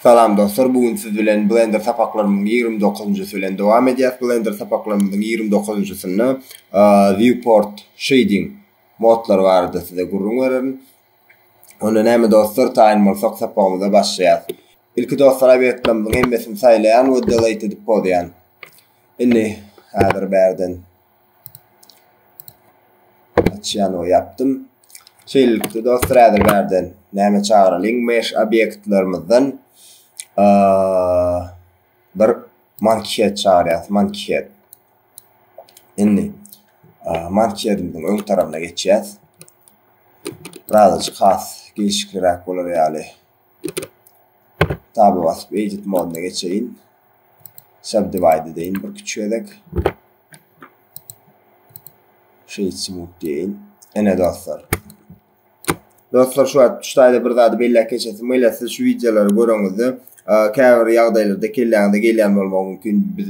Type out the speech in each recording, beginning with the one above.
Salam dostlar bu gün siz bilen blender sapaklarymyň ýigrimi dokuzynjysy bilen dowam edýäs blender sapaklarymyzyň ýigrimi dokuzynjysynda viewport shading modlary barada size gürrüň bererin onda näme dostlar taýyn bolsak sapagymyza başlaýas ilki dostlar obýektlerimiziň hemmesini saýlaýan we delete edip pozýan indi häzir bärden Açýan we ýapdym. Şeýlelikde dostlar häzir bärden näme çagyralyň mesh obýektlerimizden bir mankihet çagyrýas mankihet. Indi mankihedimiziň öň tarapyna geçýäs. Birazajyk has gelşikliräk bolar ýaly. Taba basyp edit moduna geçeýin. Subdivide deyin bir küçük edek. Shade smooth deyin. Ene dostlar. Dostlar şu wagt ştaýda bir zady belläp geçesim gelýär. Siz şu wideolary göreňizde, käbir ýagdaýlarda kelläňize gelýän bolmagy mümkin. Biz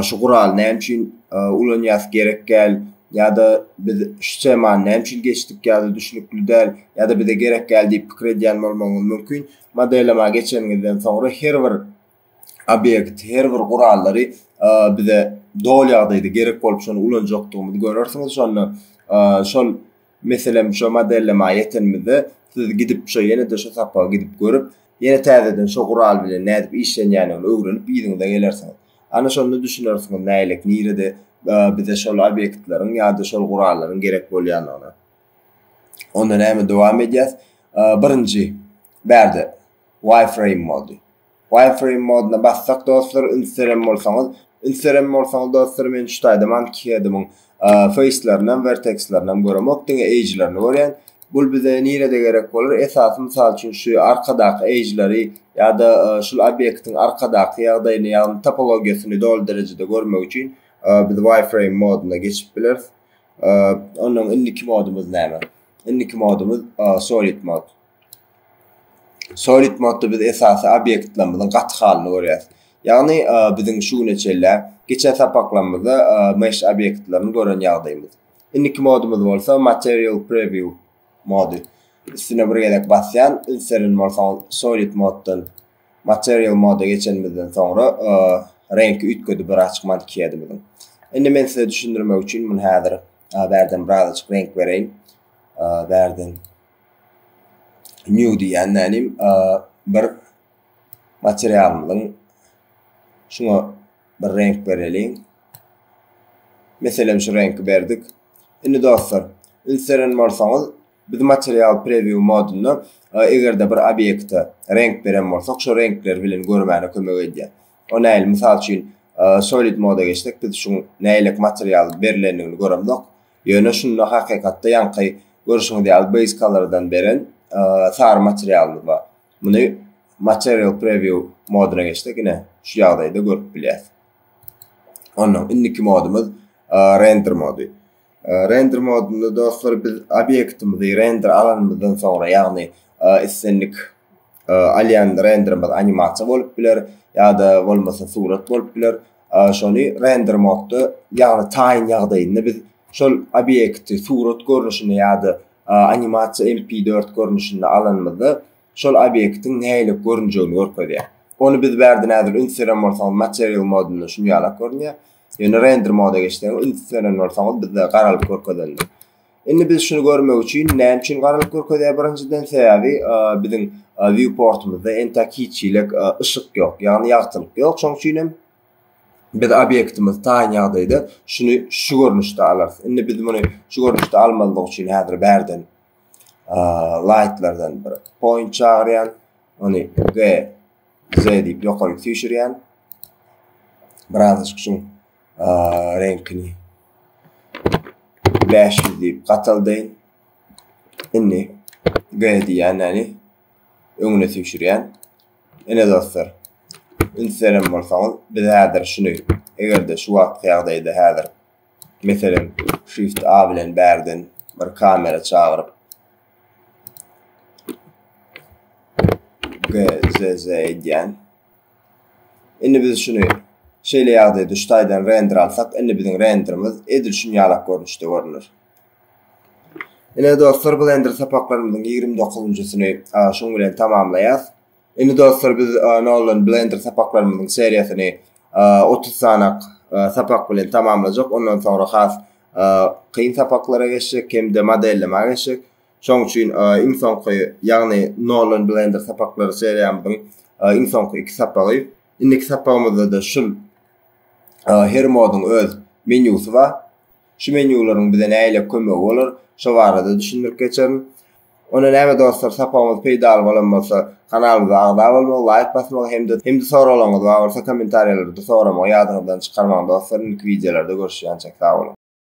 Şu guraly näme üçin ulanýas gerek gäl ýa-da biz şu temany näme üçin geçdik ýa-da düşnükli däl ýa-da bize gerek gäl diýip pikir edýän bolmagyňyz mümkin. Modellama geçeniňizden soňra her bir obýekt, her bir gurallary bize doly ýagdaýda gerek bolup şony ulanjakdygymyzy görersiňiz şonda şol Meselem şo modellemä ýetenimizde siz gidip şo ýene-de şo sapagy gidip görüp, ýene täzeden şo gural bilen nädip işlenýändigini öwrenip yzyňyza gelersiňiz. Ana şonda düşünersiňiz nälik nirede bize şol obýektleriň ýa-da şol gurallaryň gerek bolýandygyna. Onda näme dowam edýäs. Birinji bärde wireframe boldy. Wireframe modyna bassak dostlar üns beren bolsaňyz üns beren bolsaňyz dostlar men şu taýda Monkeyhead'imiň face'lerinem vertex'lerinem göremok diňe edge'lerini görýän bul bize nirede gerek bolar esasy mysal üçin şu arkadaky edge'leri ýa-da şul obýektiň arkadaky ýagdaýyny ýagny topologiýasyny doly derejede görmek üçin biz Wireframe modyna geçip bileris onnoň indiki modumyz näme indiki modumyz Solid mod. Solid modda biz esasy obýektlerimiziň gaty halyny görýäris. Ýagny biziň şu güne çenli geçen sapaklarymyzda mesh obýektlerini gören ýagdaýymyz. Indiki modumyz bolsa material preview mody. Üstüne bir gezek basýan, ünserin bolsaňyz solid moddan material moda geçenimizden soňra reňki üýtgedi bir açyk mankiyadymyzyň. Indi men size düşündirmek üçin muny häzir bärden biraz açyk reňk bereýin. Bärden New diýýän mälim bir materialymyzyň şuňa bir reňk bereliň. Meselem şu reňki berdik. Indi dostlar, üns beren bolsaňyz, biz material preview modunda eger-de bir obýekte reňk beren bolsak, şo reňkler bilen görmäne kömek edýär. O nähili? Mysal üçin, solid moda geçsek, biz şuň nähili material berlendigini göremzok. Ýöne şunda hakykatda ýaňky görşüňiz ýaly base color-dan beren sary materialymyz bar. Muny Material Preview modyna geçsek ine şu ýagdaýda görüp bilýäs. Ondan indiki modumyz Render mody. Render modunda dostlar biz obýektimizi render alanymyzdan soňra ýagny islendik alýan renderimiz animasiýa bolup biler ýa-da bolmasa surat bolup biler. Şony render modda ýagny taýyn ýagdaýynda biz şol obýekti surat görnüşinde ýa-da animasiýa MP4 görnüşinde alanymyzda şol obýektiň nähili görünjegini görkezýär. Ony biz bärde näzir üns beren bolsaňyz material modunda şuny ýalak görünýär. Ýöne render moda geçseňiz üns beren bolsaňyz bizde garalyp görkezendir. Indi biz şuny görmek üçin näme üçin garalyp görkezýär birinjiden sebäbi biziň viewportumyzda entek hiç çilek yşyk ýok ýagny ýagtylyk ýok şoň üçin hem biz obýektimiz taýyn ýagdaýda şuny şu görnüşde alarys. Indi biz muny şu görnüşde almazlyk üçin häzir bärden lightlardan bir point çagyrýan. Ony G Z diýip ýokaryk süýşürýän. Biraz şuň reňkini bäş ýüz diýip gataldaýyn. Indi G diýýänini öňüne süýşürýän. Ine dostlar, üns beren bolsaňyz, biz häzir şuny, eger-de şu wagtky ýagdaýda häzir, meselem, Shift A bilen bärden bir kamera çagyryp, GZZ edýän. Indi biz şuny şeýle ýagdaýa düş taýdan render alsak, indi biziň renderimiz edil şun ýalak görnüşde görüner. Ine dostlar blender sapaklarymyzyň ýigrimi dokuzynjysyny şuň bilen tamamlaýas. Indi dostlar biz Nolan blender sapaklarymyzyň seriýasyny otuz sanak sapak bilen tamamlajak. Ondan soňra has kyn sapaklara geçjek hem-de modellemä geçjek. Şonuň üçin iň soňky, ýagny Nolan Blender sapaklary seriýamyzyň iň soňky iki sapagy. Indiki sapagymyzda-da şul her moduň öz menýusy bar. Şu menýularyň bize nägile kömegi bolar, şo barada düşündirip geçerin. Onda näme dostlar, sapagymyz peýdaly bolan bolsa, kanalymyza agza bolmagy, laýk basmagy hem-de hem-de soraglaryňyz bar bolsa, kommentariýalarda soramagy ýadyňyzdan çykarmaň dostlar. Indiki wideolarda görüşýänçäk, sag boluň!